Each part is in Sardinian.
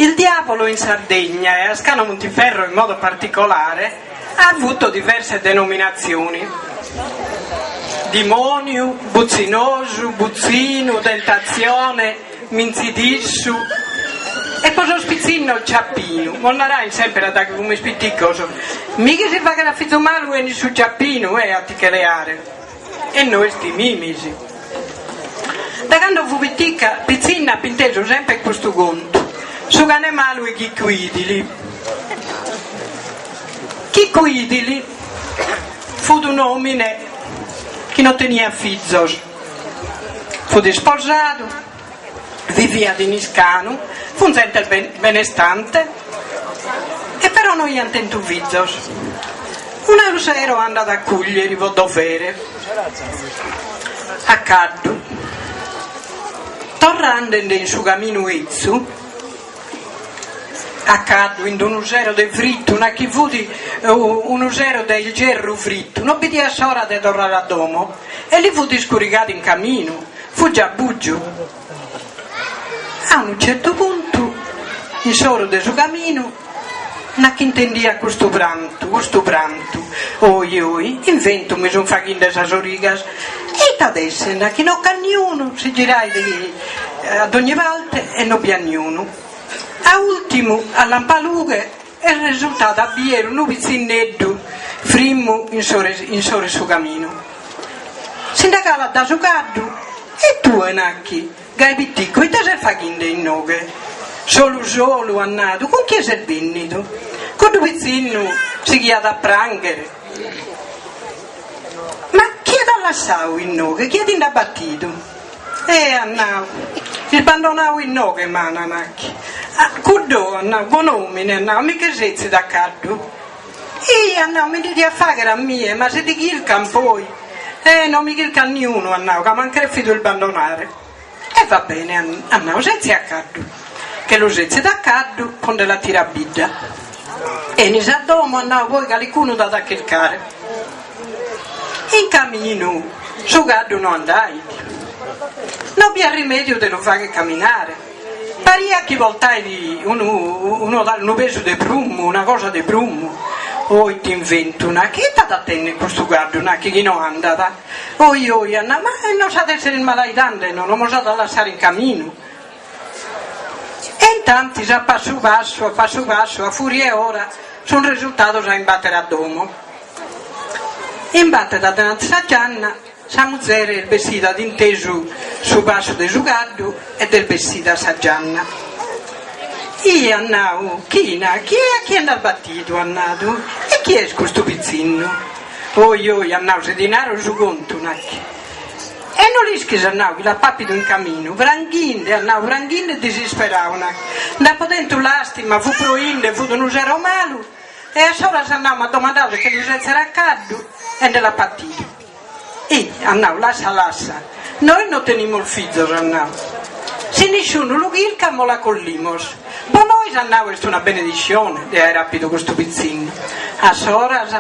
Il Diavolo in Sardegna e a Scano Montiferro in modo particolare ha avuto diverse denominazioni, dimoniu, butzinosu, butzinu, tentazione, mintzidissu e po sos pitzinnos Ciappinu, mos narain semper daghi fumis piticos, mi chi si faghet a fizu malu 'enit su Ciappinu a ti che leare. E nois timimis. Da cando fu pitica pitzinna ap intesu semper custu contu, Su cane malu 'e Chicu Idili. Chicu Idili fut un'omine chi no teniat fizos, fut isposadu, Viviat in Iscanu, fun zente benestante e però no iant tentu fizos. Unu sero andat a Cùglieri pro dovere a caddu. Torrende nde in su caminu 'ezzu a caddu in d'unu sero de frittu, nachi fut unu sero de ierru frittu, no bidiat s'ora de torrare a domo e li fut iscurigadu in caminu, Fut già bùgiu. A unu certu puntu, in s'oru de su caminu, nachi intendiat custu prantu, custu prantu, oi, oi, it'inventu mi sun faghinde sas origas, e it'at a esser, nachi no c'at niunu, si girait a dogni parte e no bi at niunu. A ùrtimu, a lampalughe e resultat a bier unu pitzinneddu frimmu in s'oru 'e su caminu. Si nde calat da su caddu, E tue, nachi, gai piticcu, ite ses faghinde innoghe? Solu solu, at nadu, cun chie ses bennidu? Cuddu pitzinnu sighiat a pranghere, Ma chie t'at lassadu innoghe, chie ti nd'at batidu? Eh, at nau, isbandonau inoghe, m'ana, nachi. Ah, cuddu, at nau, bon'omine, at nau, a mi che setzit a caddu? Ih, at nau, ite mi diat fagher a mie, ma si ti chircan poi? Eh, no mi chircat niunu, at nau, ca m'ant crefidu isbandonare. E va bene, at nau, setzi a caddu. Che lu setzit a caddu, e nde la tirat a bidda. Enis a domu, at nau, poi calicunu t'at a chircare. In caminu su caddu no andait. No b'aiat rimediu de lu fagher caminare. Pariat chi portait unu unu unu pesu de prummu, una cosa de prummu. Oh it'inventu, nachi, ite at a tenner custu caddu, nachi, chi no andat? Ohi ohi at nau, ma e no s'at a essere ismalaidende, no, no mos at a lassare in caminu. E intantis a passu passu, a passu passu, a furia 'e ora, sun resultados a imbater a domo. Imbatet addananti sa gianna, sa muzere est bessida at intesu su passu de su caddu ed est bessida a sa gianna. Ih, at nadu, china, chie a chie nd'as battidu, at nadu, e chie est custu pizzinnu? Oi, oi, at nadu, si ti naro su contu, nacchi. E no l'ischis, at nau, chi l'apo apidu in caminu, pranghinde, at nau, pranghinde disisperau, na, nd'apo tentu lastima, fut proinde, fut unu sero malu, e a s'oras, at nau, m'at domandau de che lu setzer a caddu e nde l'apo batidu. Hi, at nau, lassa, lassa, nois no tenimos fizos, at nau, si nisciunu lu chircat mos la collimos. Po nois at nau est una benediscione de aer apidu custu pitzinnu. A s'oras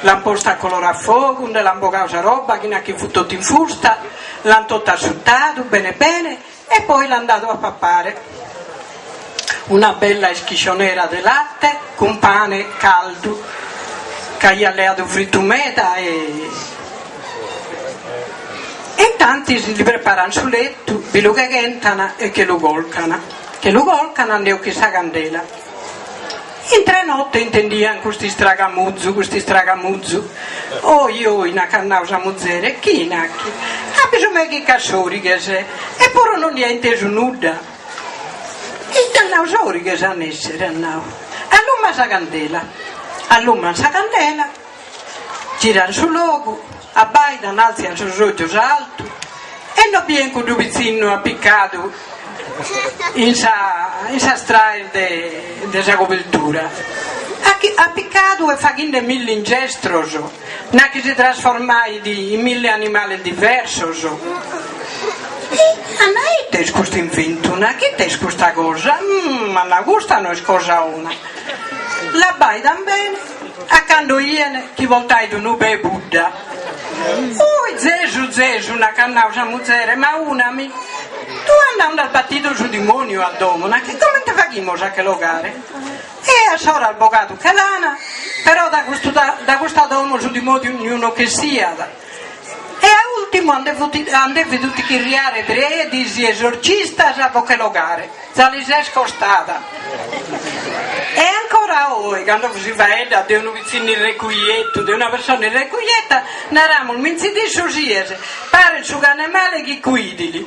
l'ant postu a color a fogu, nde l'ant bogau sa roba china chi fut totu infusta, l'ant totu assutadu bene bene e poi l'ant dadu a papare. Una bella ischiscionera de latte cun pane caldu ch'aiat leadu fritu meda e intantis li preparant su lettu, bi lu cheghentan e che lu colcant. Che lu colcan e nde 'ochin sa candela. Intre notte intendian custu istragamuzu, custu istragamuzu. Oi, oi, nachi at nau sa muzere, china, chi, a bisu meu chi ch'at sorighes, eppuru no ndi at intesu nudda. Ei, at nau, sorighes an a essere, at nau, alluma sa candela. Alluman sa candela. Giran su logu, abbaidan, alzian sos ojos a altu e no bien cuddu pitzinnu appiccadu in sa in sas traes de de sa cobeltura, appiccadu e faghinde milli ingestros, na chi si trasformait in milli animales diversos. Ah, na, ite est custu inventu, na chi, ite est custa cosa? Ah, na, custa no est cosa 'ona. L'abbaidan bene A cando ien chi portàit unu pe 'e pudda. Ui, zesu, zesu, nachi at nau sa muzere, ma una mi, tue at nau nd'as batidu su dimoniu a domo, na chi comente faghimos a che l'ogare? E a s'oras bogadu che l'ana, però da custa domo su dimoniu no ch'essiat. E a ùrtimu an dèvidu tichirriare predis e esorcistas pro che l'ogare, za lis est costada. E ancora oe, cando si faeddat de unu pitzinu irrecujetu, de una persona irrecujeta, naramus, mincidissu sies, paret su cane male chi cuidili.